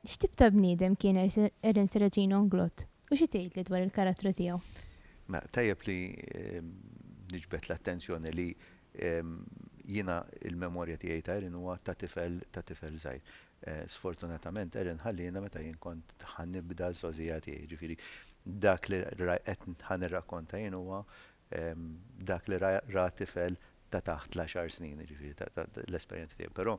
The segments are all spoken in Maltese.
X'tip ta' bniedem kien Ernst Reġin Onglot u xi tgħidli dwar il-karattru tiegħu? Ma tajjeb li ehm, niġbed l-attenzjoni li ehm, jiena il-memorja tiegħi ta' Erin huwa ta' tifel ta' tifel żgħir. Sfortunatament Erin ħalliena meta jien kont ħa nibda żgħożija tiegħi, jiġifieri dak li qed ħa nirrakkonta jien huwa dak li ra tifel ta' taħt l-għaxar snin, jiġifieri l-esperjenza tiegħi. Però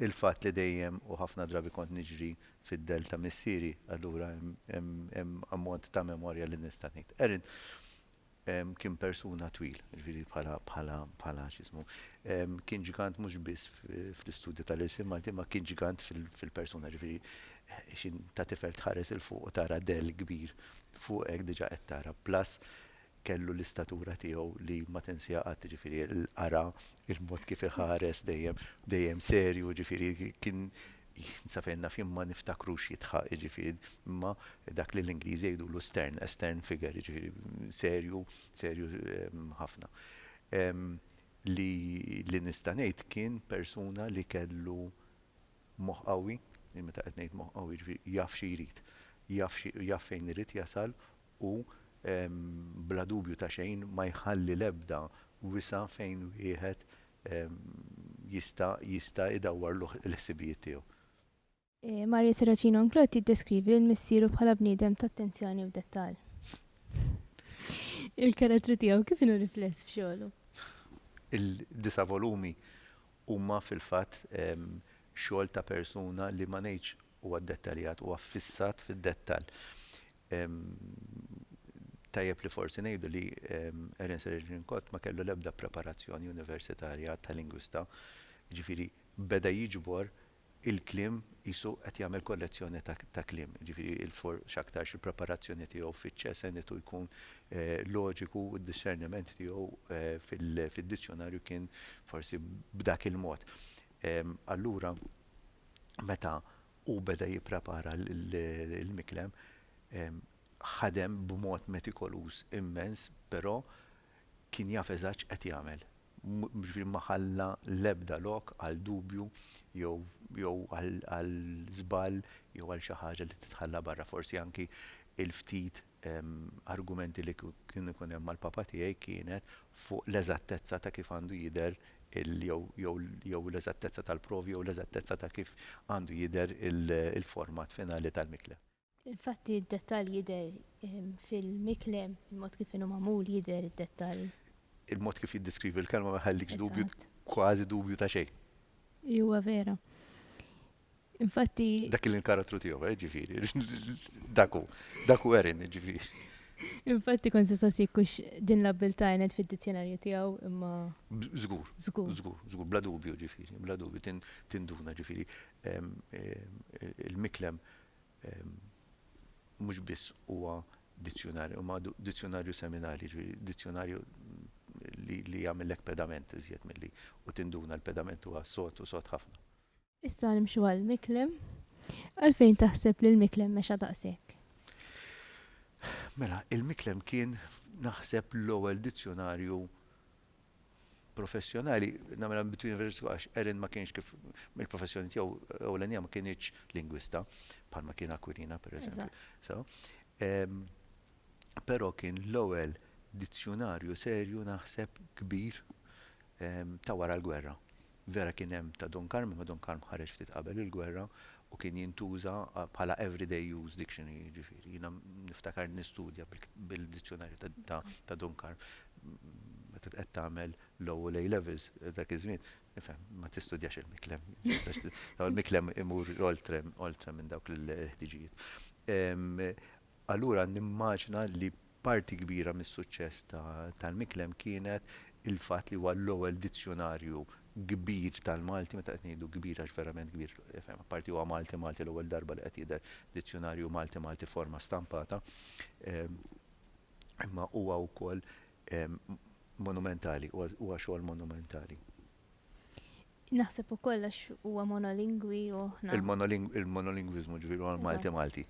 il-fatt li dejjem u ħafna drabi kont niġri fid-dell ta' missieri, allura hemm ammont ta' memorja li nista' ngħid. Erin Kien persuna twil, jiġifieri bħala x'ismu, kien ġigant mhux biss fl-istudju tal-irsien Malti imma kien ġigant fil-persuna, jiġifieri xi ta' tifel tħares 'il fuq u tara dell kbir fuqek diġà qed tara, plus kellu l-istatura tiegħu li ma tinsiha qatt, jiġifieri l-qara, il-mod kif iħares dejjem, dejjem serju, jiġifieri kien sa fejn naf jien ma niftakrux jitħaq, jiġifieri imma dak li l-Ingliżi jgħidulu stern, a stern figure, jiġifieri serju, serju ħafna. Li li nista' ngħid kien persuna li kellu moħħ qawwi, meta qed ngħid moħħ qawwi jiġifieri jaf xi jrid, jaf xi jaf fejn irid jasal u bla dubju ta' xejn ma jħalli l-ebda wisa' fejn wieħed jista' jista' idawwar l-ħsibijiet tiegħu. Maria Serracino Anclot jiddeskrivi lil missieru bħala bniedem t'attenzjoni u dettall. Il-karattru tiegħu kif inhu rifless f'xogħlu? Il-disa' volumi huma fil-fatt xogħol ta' persuna li ma ngħidx huwa ddettaljat, huwa ffissat fid-dettall. Tajjeb li forsi ngħidu li Ernest Redlincourt ma kellu l-ebda preparazzjoni universitarja ta' lingwista, jiġifieri beda jiġbor il-kliem qisu qed jagħmel kollezzjoni ta' kliem, jiġifieri x'aktarx il-preparazzjoni tiegħu fiċ-ċe senitu jkun loġiku u d-dixxerniment tiegħu fid-dizzjunarju kien forsi b'dak il-mod. Allura meta u beda jipprepara l-miklem, ħadem b'mod metikoluż immens, però kien jaf eżatt x'qed jagħmel. Jiġifieri ma ħalla l-ebda lok għal dubju jew jew għal żball jew għal xi ħaġa li titħalla barra, forsi anki l-ftit argumenti li kien ikun hemm mal-Papa tiegħi kienet fuq l-eżattezza ta' kif għandu jidher il jew l-eżattezza tal-provi jew l-eżattezza ta' kif għandu jidher il-format finali tal-mikle. Infatti d-dettall jidher fil-mikle, il-mod kif inhu magħmul jidher id-dettall. Il-mod kif jiddeskrivi l-kelma ma jħallikx dubju, kważi dubju ta' xejn. Iva vera. Infatti. Dak il-inkarattru tiegħu, eh, ġifieri. Dak hu, dak hu Erin, ġifieri. Infatti kont se saqsi kux din l-abbiltà għenet fid-dizzjonarju tiegħu imma. Żgur. Żgur. Żgur, żgur, bla dubju ġifieri, bla dubju tinduna ġifieri il-miklem mhux biss huwa dizzjonarju, imma dizzjonarju seminali, ġifieri dizzjonarju li jagħmellek pedament iżjed milli u tinduna l-pedament huwa sod u sod ħafna. Issa nimxu għal Miklem. Għalfejn taħseb li l-Miklem mexa daqshekk? Mela, il-Miklem kien naħseb l-ewwel dizzjonarju professjonali, namela between verses għax Erin ma kienx kif mill-professjoni tiegħu ewlenija ma kienx lingwista, bħalma kien Aquilina per eżempju. Però kien l-ewwel dizzjonarju serju naħseb kbir ta' wara l-gwerra. Vera kien hemm ta' Don Karm, imma Don Karm ħareġ ftit qabel il-gwerra u kien jintuża bħala everyday use dictionary, jiġifieri jiena niftakar nistudja bil-dizzjonarju ta' Don Karm meta qed tagħmel Law u l-A Levels dak iż-żmien, tifhem, ma tistudjax il-Miklem, il-Miklem imur oltre minn dawk il-ħtiġijiet. Allura nimmaġina li parti kbira mis-suċċess tal-Miklem kienet il-fatt li huwa l-ewwel dizzjunarju kbir tal-Malti, meta qed ngħidu kbir għax verament kbir, apparti huwa Malti Malti l-ewwel darba li qed jidher dizzjunarju Malti Malti f'forma stampata, imma huwa wkoll monumentali, huwa xogħol monumentali. Naħseb ukoll għax huwa monolingwi u aħna. Il-monolingwiżmu ġifieri huwa Malti Malti.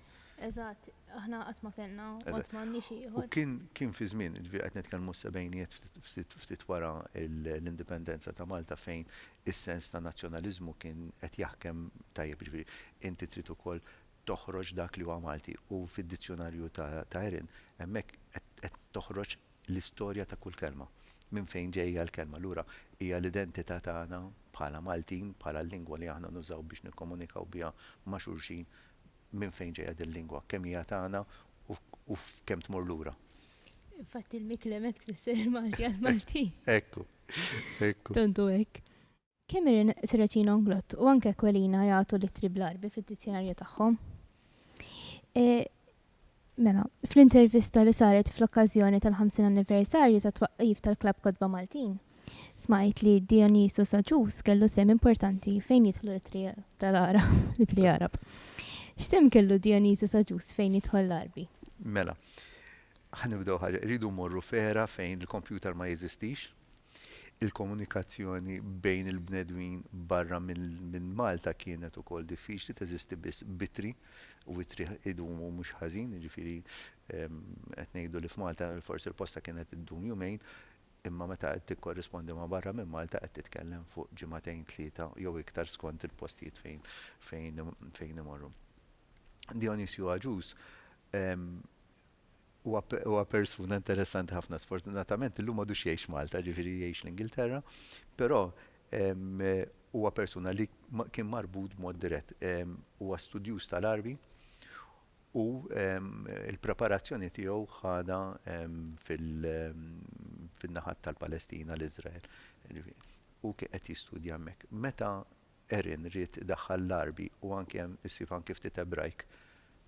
Eżatt, aħna qatt ma kellna qatt m'għandniex ieħor. Kien kien fi żmien, ġifieri qed nitkellmu s-sebgħinijiet ftit wara l-indipendenza ta' Malta fejn is-sens ta' nazzjonaliżmu kien qed jaħkem tajjeb ġifieri inti trid ukoll toħroġ dak li huwa Malti u fid-dizzjunarju ta' Erin hemmhekk qed toħroġ l-istorja ta' kull kelma, minn fejn ġejja l-kelma. Allura hija l-identità tagħna bħala Maltin, bħala l-lingwa li aħna nużaw biex nikkomunikaw biha ma' xulxin, minn fejn ġejja din lingwa, kemm hija tagħna u f'kemm tmur lura. Infatti l-mikli hemmhekk tfisser il-Malti għall-Maltin. Ekku, ekku. Tant hu hekk. Cameron Serracino Nglott u anke Aquilina jagħtu l-ittri bl-Għarbi fid-dizzjonarju tagħhom. Mela, fl-intervista li saret fl-okkażjoni tal-50 anniversarju tat-twaqqif tal-Klabb Kotba Maltin, smajt li Dionisu Saġus kellu sehem importanti fejn jidħlu l-ittri tal-Għarab, l-ittri Għarab. X'sehem kellu Dionisu Saġus fejn jidħol l-Għarbi? Mela, ħa nibdew ħaġa, irridu mmorru f'era fejn il-kompjuter ma jeżistix, Il-komunikazzjoni bejn il-bnedmin barra minn Malta kienet ukoll diffiċli, teżisti biss b'ittri u ittri jdumu mhux ħażin, jiġifieri qed ngħidu li f'Malta forsi l-posta kienet iddum jumejn, imma meta qed tikkorrispondi ma' barra minn Malta qed titkellem fuq ġimagħtejn, tlieta jew iktar skont il-postijiet fejn imorru. Dijonisju Agius Huwa persuna interessanti ħafna. Sfortunatament illum m'għadux jgħix Malta, ġifieri jgħix l-Ingilterra, però huwa persuna li kien marbut b'mod dirett. Huwa studjuż tal-Għarbi u l-preparazzjoni tiegħu ħadha fin-naħat tal-Palestina, l-Iżrael. Hu kien qed jistudja hemmhekk. Meta Erin ried idaħħal l-Għarbi u anki hemm issib anki ftit Ebrajk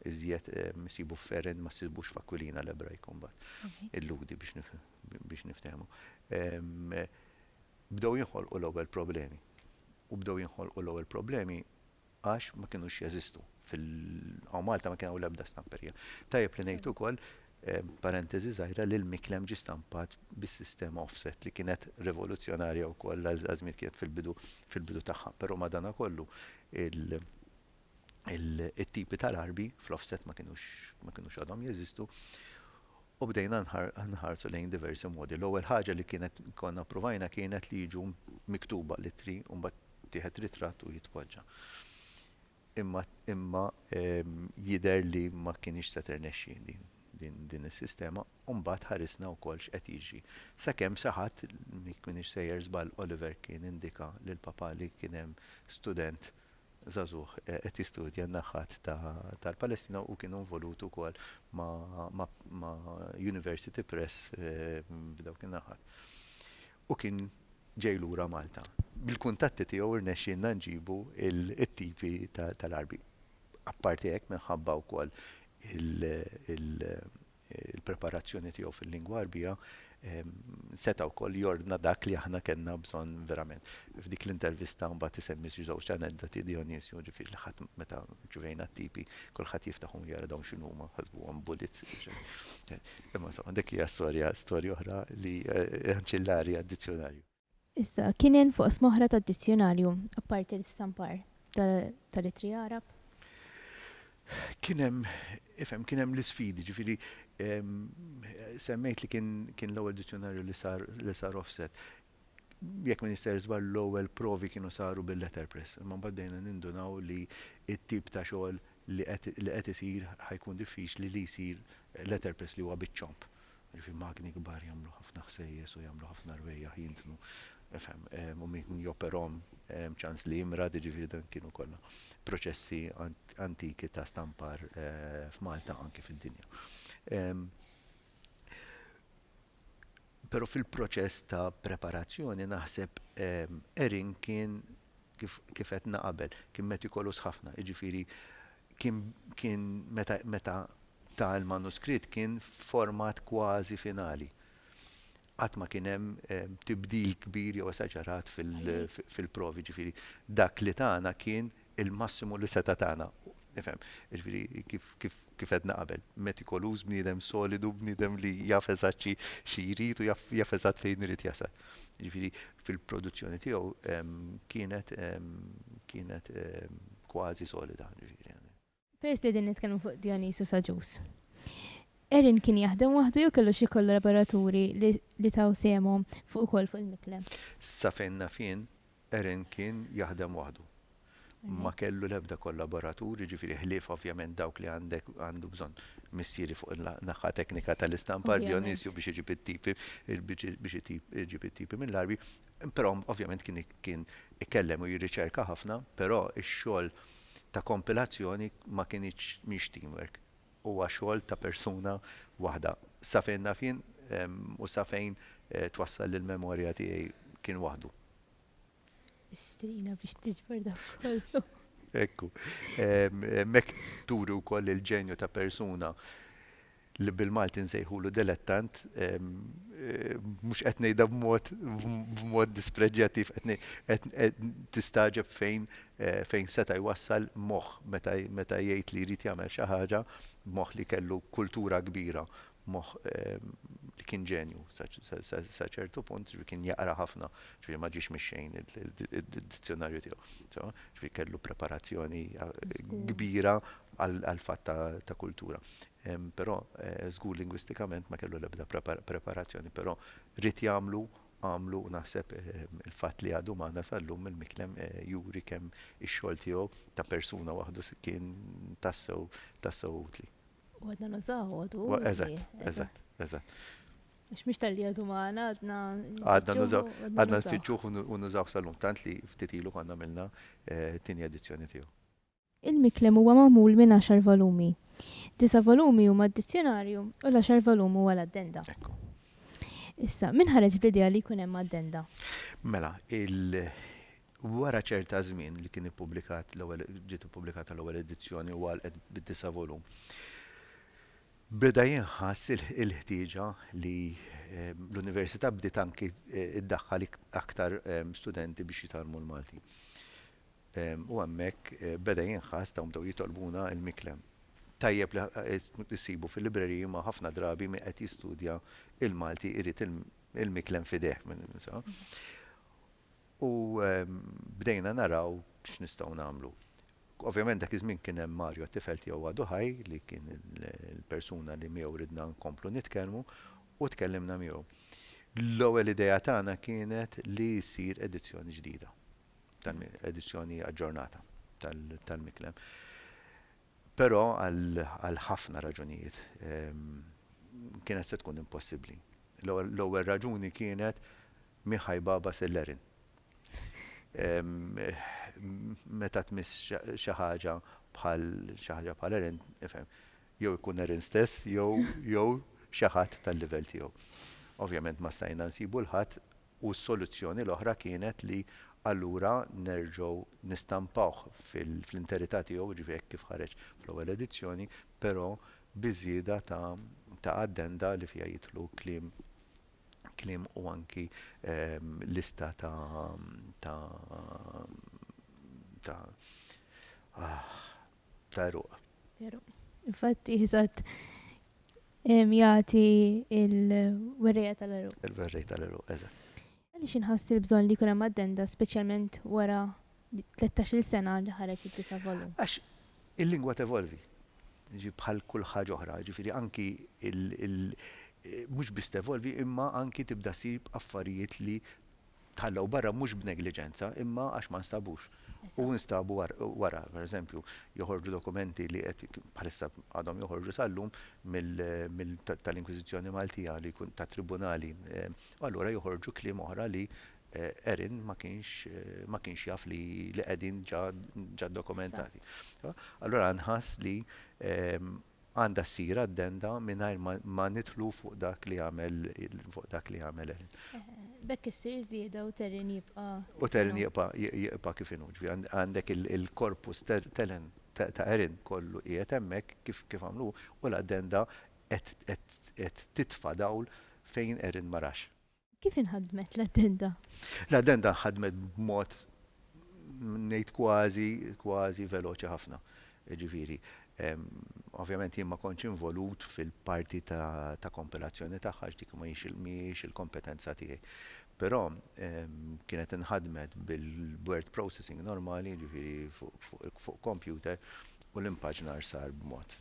iżjed issibu f'Erin ma ssibux f'Akwilina l-Ebrajk imbagħad. Illudi biex niftehmu. Bdew jinħolqu l-ewwel problemi. U bdew jinħolqu l-ewwel problemi għax ma kinux jeżistu fil-Malta ma kien hawn l-ebda stamperija. Tajjeb li ngħid ukoll Parentesi żgħira, l-miklem ġie stampat bis-sistema offset li kienet rivoluzzjonarja wkoll għal dak iż-żmien kienet fil-bidu fil-bidu tagħha. Però madankollu it-tipi tal-arbi fl-offset ma kinux ma kinux għadhom jeżistu u bdejna nħarsu lejn diversi modi. L-ewwel ħaġa li kienet konna ppruvajna kienet li jiġu miktuba l-ittri u mbagħad jittieħed ritratt u jitpoġġa. Imma imma jidher li ma kinitx se tirnexxi din din is-sistema u mbagħad ħarisna wkoll x'qed jiġri. Sakemm xi ħadd, jekk m'iniex sejjer żball Oliver Keane indika lil papà li kien hemm student żagħżugħ qed jistudja n-naħat ta' tal-Palestina u hu kien involut ukoll ma' ma' ma' University Press f'dawk in-naħat. u kien ġej lura Malta. Bil-kuntatti tiegħu rnexxielna nġibu t-tipi tal-għarbi. Apparti hekk minħabba wkoll il-preparazzjoni tiegħu fil-lingwa Għarbija seta' wkoll jordna dak li aħna kellna bżonn verament. F'dik l-intervista mbagħad isemmi xi żewġ aneddoti Dionisio, ġifieri li ħadd meta rċivejna t-tipi kulħadd jiftaħhom u jara dawn x'inhuma, ħasbuhom bullets. Imma insomma, dik hija storja, storja oħra li anċillari għad-dizzjonarju. Issa, kien hemm fuq smoħra tad-dizzjonarju, apparti l-istampar tal-ittri Għarab? Kien hemm, ifhem, kien hemm l-isfidi, ġifieri semmejt li kien l-ewwel dizzjonarju li sar offset. jekk ma nister żball l-ewwel provi kienu saru bil-letterpress, imma mbagħad bdejna nindunaw li t-tip ta' xogħol li qed li qed isir ħa jkun diffiċli li jsir letterpress li huwa biċ-ċomb. Jiġifieri magni kbar jagħmlu ħafna ħsejjes u jagħmlu ħafna rwejjaħ jintnu, efhem, u min joperahom hemm ċans li jimrad, jiġifieri dan kienu kollha proċessi antiki ta' stampar f'Malta anki fid-dinja. Pero fil-proċess ta' preparazzjoni naħseb Erin kien kif kif qedna qabel, kien metikolus ħafna, jiġifieri kien kien meta meta ta l-manuskritt kien f'format kważi finali. Qatt ma kien hemm tibdil kbir jew esaġerat fil-provi, jiġifieri dak li tana kien il-massimu li seta' tana. Nifhem, jiġifieri kif kif kif għedna qabel, metikoluż, bniedem solidu, bniedem li jaf eżatt xi xi jrid u jaf jaf eżatt fejn irid jasal. Jiġifieri fil-produzzjoni tiegħu kienet kienet kważi solida, jiġifieri. Peress li din nitkellmu fuq Dionisu Saġus. Erin kien jaħdem waħdu jew kellu xi kollaboraturi li taw sehemhom fuq ukoll fuq il-mikle? Sa fejn naf jien, Erin kien jaħdem waħdu. Ma kellu l-ebda kollaboratur, jiġifieri ħlief ovvjament dawk li għandek għandu bżonn missieri fuq in-naħa teknika tal-istampar, Dionisio biex iġib it-tipi, biex iġib it-tipi mill-arbi, Però ovvjament kien kien ikellem u jirriċerka ħafna, però x-xogħol ta' kompilazzjoni ma kinitx mhix teamwork. Huwa xogħol ta' persuna waħda. Sa fejn naf jien u sa fejn twassal il-memorja tiegħi kien waħdu. Istrina biex tiġbor dan kollu. Ekku. Hemmhekk turi wkoll il-ġenju ta' persuna. li bil-Malti nsejħulu delettant, mhux qed ngħidha b'mod b'mod dispreġġjattiv, qed ngħid qed qed tistagħġeb fejn fejn seta' jwassal moħħ meta meta jgħid li jrid jagħmel xi ħaġa, moħħ li kellu kultura kbira, moħħ li kien ġenju sa sa sa ċertu punt, ġifieri kien jaqra ħafna, ġifieri ma ġiex mix-xejn id-dizzjonarju tiegħu, sewa? Ġifieri kellu preparazzjoni kbira għall-fatt ta' kultura. Però żgur lingwistikament ma kellu l-ebda preparazzjoni però ried jagħmlu, għamlu u naħseb il-fatt li għadu magħna sal-lum mill-miklem juri kemm ix-xogħol tiegħu ta' persuna waħdu kien tassew, tassew utli. U għadna nużaw, għadu utli. Eżatt, eżatt, eżatt. Għax mhux talli għadu magħna, għadna. Għadna nużaw, għadna nfittxuh u nużawh sal-lum tant li ftit ilu konna għamilna t-tieni edizzjoni tiegħu. Il-Miklem huwa magħmul minn għaxar volumi. Disa' volumi huma d-Dizzjonarju u l-għaxar volum huwa l-Addenda. Ekku. Issa, min ħareġ bl-idea li jkun hemm Addenda? Mela, il, wara ċerta żmien li kien ippubblikat l-ewwel, ġiet ippubblikata l-ewwel edizzjoni u għalqet bid-disa' volum, beda jinħass il-ħtieġa li l-Università bdiet anki ddaħħal aktar studenti biex jitgħallmu l-Malti. U hemmhekk beda jinħass, dawn bdew jitolbuna l-miklem. Tajjeb li ssibu fil-libreriji imma ħafna drabi min qed jistudja l-Malti jrid il-miklem f'idejh. U bdejna naraw x'nistgħu nagħmlu. Ovvjament dak iż-żmien kien hemm Mario t-tifel tiegħu għadu ħaj li kien il-persuna li miegħu ridna nkomplu nitkellmu u tkellimna miegħu. L-ewwel idea tagħna kienet li ssir edizzjoni ġdida. tal-edizzjoni aġġornata tal-Miklem. Però għal ħafna raġunijiet ehm, kienet se tkun impossibbli. L-ewwel raġuni kienet Miħaj Baba Sellerin. Ehm, meta tmiss xi ħaġa bħal xi ħaġa bħal Erin, ifhem, jew ikun Erin stess jew jew xi ħadd tal-livell tiegħu. Ovvjament ma stajna nsibu l-ħadd U s-soluzzjoni l-oħra kienet li allura nerġgħu nistampawh fl-interità tiegħu, jiġifieri hekk kif ħareġ fl-ewwel edizzjoni, però bi żieda ta' ta' addenda li fiha jidħlu kliem kliem u anki lista ta' ta' ta' ta' eruq. Infatti, jizat jgħati il-werreja tal-eruq. Il-werreja tal-eruq, eżat. Għalli xinħass il-bżon li kunem addenda, specialment wara 13 sena li ħareġ il-tisa volum. Għax il-lingwa tevolvi, ġi bħal kull ħaġa oħra, ġifiri anki il- mux biss tevolvi imma anki tibda sib affarijiet li tħallew barra mhux b'negliġenza imma għax ma nstabux. U instabu wara, pereżempju, joħorġu dokumenti li qed bħalissa għadhom joħorġu sal-lum mill tal-Inkwiżizzjoni Maltija li jkun tat-tribunali u allura joħorġu kliem oħra li Erin ma kienx ma kienx jaf li qegħdin ġa dokumentati. Allura nħass li Għandha ssir addenda mingħajr ma, ma nidħlu fuq dak li għamel, fuq dak li għamel Erin. B'hekk issir żieda u Terin jibqa'. U Terin jibqa', jibqa' kif inhu. Ġifieri għandek il-korpus Telen, ta' Erin kollu qiegħed hemmhekk kif, kif għamlu hu, u l-addenda qed, qed, qed titfa' dawl fejn Erin ma rax. Kif inħadmet l-addenda? L-addenda nħadmet b'mod ngħid kważi kważi veloċi ħafna. Ġifieri, ovvjament jien ma kontx involut fil-parti ta' kompilazzjoni tagħha dik ma mhijiex il-kompetenza tiegħi. Però kienet inħadmet bil-word processing normali, ġifieri fuq computer, u l-impaġnar sar b'mod,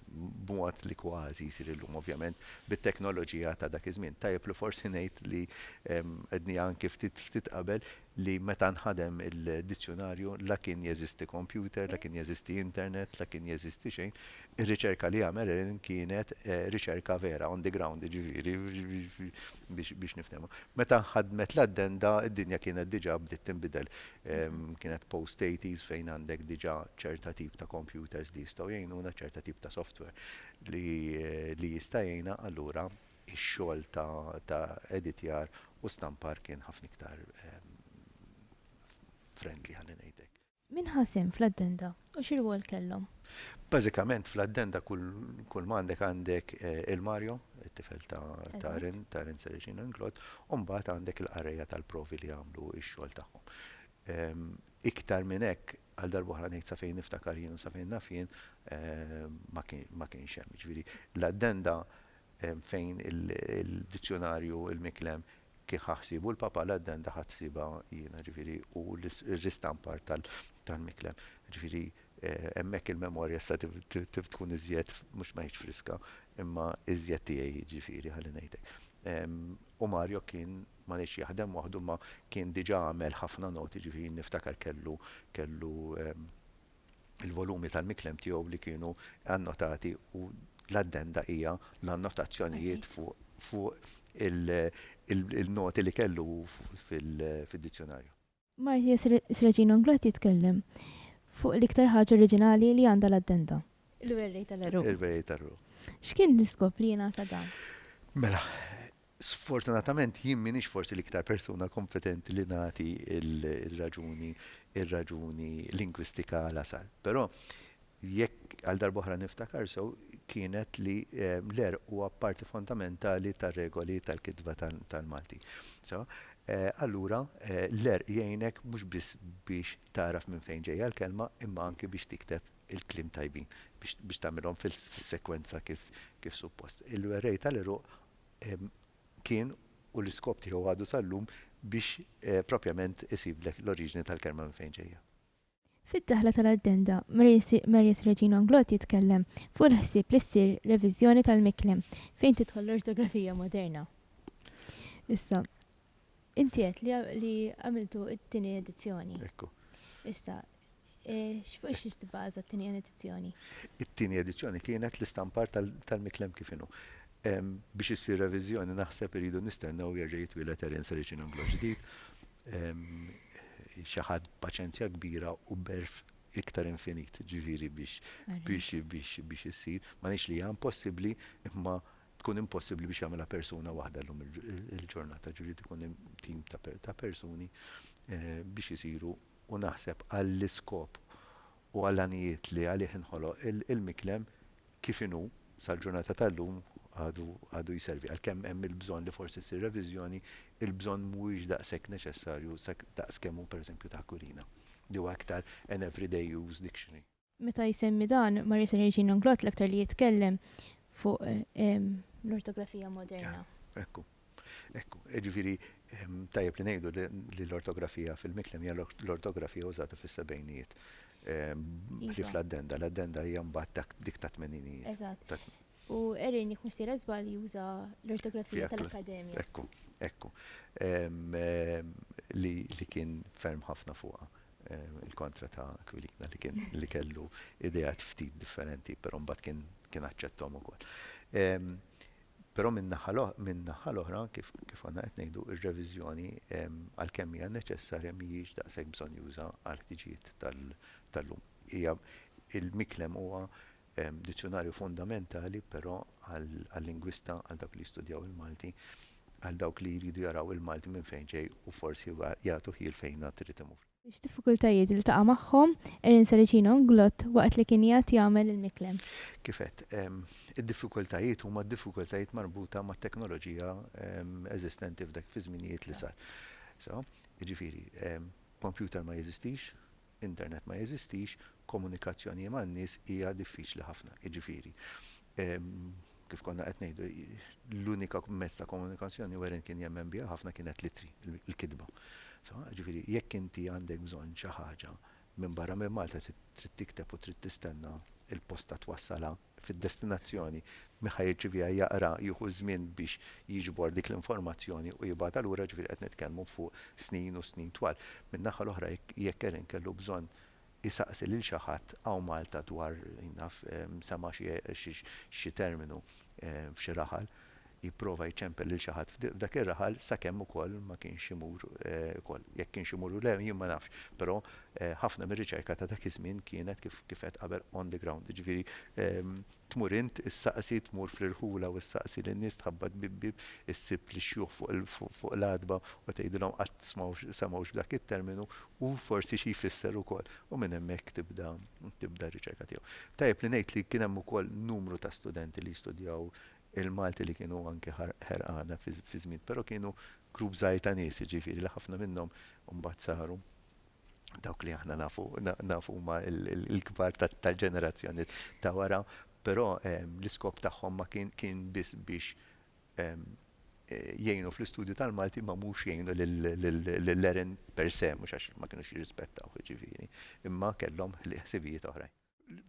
b'mod li kważi jsir illum, ovvjament, bit-teknoloġija ta' dak iż-żmien. Tajjeb li forsi ngħid li, għedniha anki ftit, ftit qabel, li meta nħadem il-dizzjunarju la kien jeżisti kompjuter, la kien jeżisti internet, la kien jeżisti xejn, ir-riċerka li għamel Ellen kienet riċerka vera, on the ground, jiġifieri, Biex niftehmu. Meta nħaddmet l-addenda, id-dinja kienet diġà bdiet tinbidel. Kienet post-80s fejn għandek diġà ċerta tip ta' kompjuters li jistgħu jgħinuna, ċerta tip ta' software li jista' jgħinna, allura x-xogħol ta' editjar u stampar kien ħafna iktar friendly, ħalli ngħid hekk. Min ħa sehem fl-addenda u xi rwol kellhom? Bażikament fl-addenda kull ma għandek għandek il-Mario, it-tifel ta' ta' Rin Sereġin u Inglot, u mbagħad għandek il-qarrejja tal-provi li għamlu x-xogħol tagħhom. Iktar minn hekk, għal darba oħra ngħid sa fejn niftakar jien u sa fejn naf jien, ma kienx hemm. Jiġifieri l-addenda fejn il-dizzjunarju, il-miklem, kien ħa ħsiebu l-Papa la d-denda ħadt ħsiebha jiena, ġifieri, u r-ristampar tal-miklen. Ġifieri, hemmhekk il-memorja issa tkun iżjed, mhux ma ngħidx friska, imma iżjed tiegħi, jiġifieri, ħalli ngħid hekk. U Mario kien, ma ngħidx jaħdem waħdu, imma kien diġà għamel ħafna noti, ġifieri niftakar kellu, kellu, il-volumi tal-miklem tiegħu li kienu annotati u l-addenda hija l-annotazzjonijiet fuq il-noti li kellu hu fid-dizzjonarju. Martius Reginum Grot jitkellem fuq l-iktar ħaġa oriġinali li għandha l-addenda, il-werrej tal-għeruq. Il-werrej tal-għeruq. X'kien l-iskop li jingħata dan? Mela, Sfortunatament jien m'iniex forsi l-iktar persuna kompetenti li nagħti r-raġuni r-raġuni lingwistika għala sar. Però jekk għal darba oħra niftakar sew kienet li l-għerq huwa parti fondamentali tar-regoli tal-kitba tal-Malti. So, allura l-għerq jgħinek mhux biss biex tagħraf minn fejn ġejja l-kelma imma anki biex tikteb il-kliem tajbin, biex tagħmilhom fis-sekwenza kif suppost. Il-werrej tal-għeruq kien u l-iskop tiegħu għadu sal-lum biex propjament isibdlek l-oriġini tal-kelma minn fejn ġejja. Fid-daħla tal-addenda, Marius Reġino Anglott jitkellem fuq il-ħsieb li ssir reviżjoni tal-miklem fejn tidħol l-ortografija moderna. Issa, Inti għedt li għamiltu t-tieni edizzjoni. Ekku. Issa, fuq xiex tibbaża t-tieni edizzjoni? It-tieni edizzjoni kienet l-istampar tal-miklem kif inhu. Biex issir reviżjoni naħseb iridu nistennew jerġa' jitwieled Eren Sericin Unglo ġdid, xi ħadd b'paċenzja kbira u b'għerf iktar infinit, ġifieri biex issir. M'għaliex li hija impossibbli, imma tkun impossibbli biex jagħmilha persuna waħda llum il-ġurnata, ġifieri jrid ikun hemm tim ta' persuni biex isiru u naħseb għall-iskop u għall-għanijiet li għalih inħoloq il-miklem kif inhu sal-ġurnata tal-lum għadu jservi. Għalkemm hemm il-bżonn li forsi ssir reviżjoni, il-bżonn mhuwiex daqshekk neċessarju daqs kemm hu pereżempju ta' Aquilina li huwa iktar an everyday use dictionary. Meta jsemmi dan, Maria Serežina Nglott l-aktar li jitkellem fuq l-ortografija moderna. Ekku. Ekku. Jiġifieri tajjeb li ngħidu li l-ortografija fil-Miklem hija l-ortografija użata fis-sebgħinijiet. Ħlief l-addenda. L-addenda hija mbagħad dik tat-tmeninijiet. Eżatt. U Erin jekk mhux sejra żball juża l-ortografija tal-Akkademja. Ekku. Ekku. Li kien ferm ħafna fuqha. il-kontra ta' Aquilina li kien li kellu ideat ftit differenti, però mbagħad kien kien aċċetthom ukoll. Però minn naħa minn naħa l-oħra kif kif konna qed ngħidu r-reviżjoni għalkemm hija neċessarja mhijiex daqshekk bżonjuża għall-ħtiġijiet tal-lum. Hija il-miklem huwa Dizzjunarju fundamentali, però, għal-lingwista, għal dawk li jistudjaw il-Malti, għal dawk li jridu jaraw il-Malti minn fejn ġej u forsi jagħtu ħjiel fejn għad irid imur. X'diffikultajiet iltaqa' magħhom Erin Saracino, Glott, waqt li kien jgħad jagħmel il-miklem? Kif għedt, id-diffikultajiet huma d-diffikultajiet marbuta mat-teknoloġija eżistenti f'dak fiż-żminijiet li sar. Sew? Jiġifieri, kompjuter ma jeżistix, Internet ma jeżistix, komunikazzjonijie man-nies hija diffiċli ħafna. Jiġifieri, kif konna qed ngħidu, l-unika mezz ta' komunikazzjoni Weren kien jemmen biha ħafna kienet l-ittri, il-kitba. Sewa? Jiġifieri, jekk inti għandek bżonn xi ħaġa minbarra minn Malta trid tikteb u trid tistenna l-posta twassalha. fid-destinazzjoni, min ħa jirċiviha jaqra, jieħu ż-żmien biex jiġbor dik l-informazzjoni u jibgħatha lura, ġifieri qed nitkellmu fuq snin u snin twal. Min-naħa l-oħra jekk Erin kellu bżonn isaqsi lil xi ħadd hawn Malta dwar, jien naf, sema' xi terminu f'xi raħal, jipprova jċempel lil xi ħadd f'dak ir-raħal sakemm ukoll ma kienx imur ukoll. Jekk kienx imur u le jien ma nafx, però ħafna mir-riċerka ta' dak iż-żmien kienet kif kif għedt qabel on the ground, jiġifieri tmur int issaqsi, tmur fl-irħula u ssaqsi lin-nies, tħabbat bieb bieb, issib lix-xjuħ fuq l-għatba u tgħidilhom qatt semgħux b'dak it-terminu u forsi xi jfisser ukoll u minn hemmhekk tibda tibda r-riċerka tiegħu. Tajjeb li ngħid li kien hemm ukoll numru ta' studenti li jistudjaw Il-Malti li kienu anke ħerqana fi żmien, però kienu grupp żgħir ta' nies, jiġifieri li ħafna minnhom mbagħad saru dawk li aħna nafu, nafu huma l-kbar tal-ġenerazzjoni ta' wara, però l-iskop tagħhom ma kien kien biss biex jgħinu fl-istudju tal-Malti ma mhux jgħinu lill-Eren per se, mhux għax ma kinux jirrispettawh jiġifieri, imma kellhom ħsibijiet oħrajn.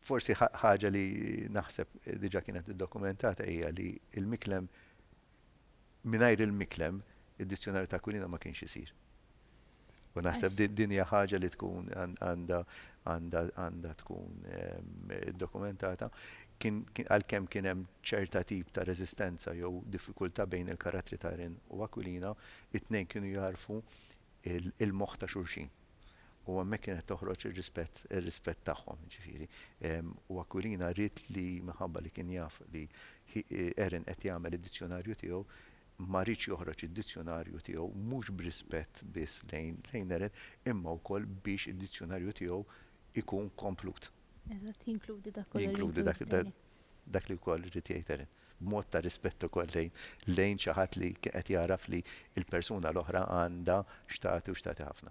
Forsi ħaġa li naħseb diġa kienet iddokumentata hija li il-miklem mingħajr il-miklem id-dizzjonarju ta' Aquilina ma kienx isir. U naħseb din hija ħaġa li tkun għandha għandha tkun ehm, dokumentata għalkemm kien hemm ċerta tip ta' reżistenza jew diffikultà bejn il-karattri ta' Rin u Aquilina, it-tnejn kienu jarfu il-moħħ ta' xulxin. u hemmhekk kienet toħroġ ir-rispett ir-rispett tagħhom ġifieri. U Aquilina ried li minħabba li kien jaf li Erin qed jagħmel id-dizzjonarju tiegħu, ma riedx joħroġ id-dizzjonarju tiegħu mhux b'rispett biss lejn lejn Erin imma wkoll biex id-dizzjonarju tiegħu jkun komplut. Eżatt, jinkludi dak kollu li. Jinkludi dak li wkoll ried jgħid Erin. b'mod ta' rispett ukoll lejn lejn xi ħadd li kien qed jagħraf li l-persuna l-oħra għandha x'tagħti u x'tagħti ħafna.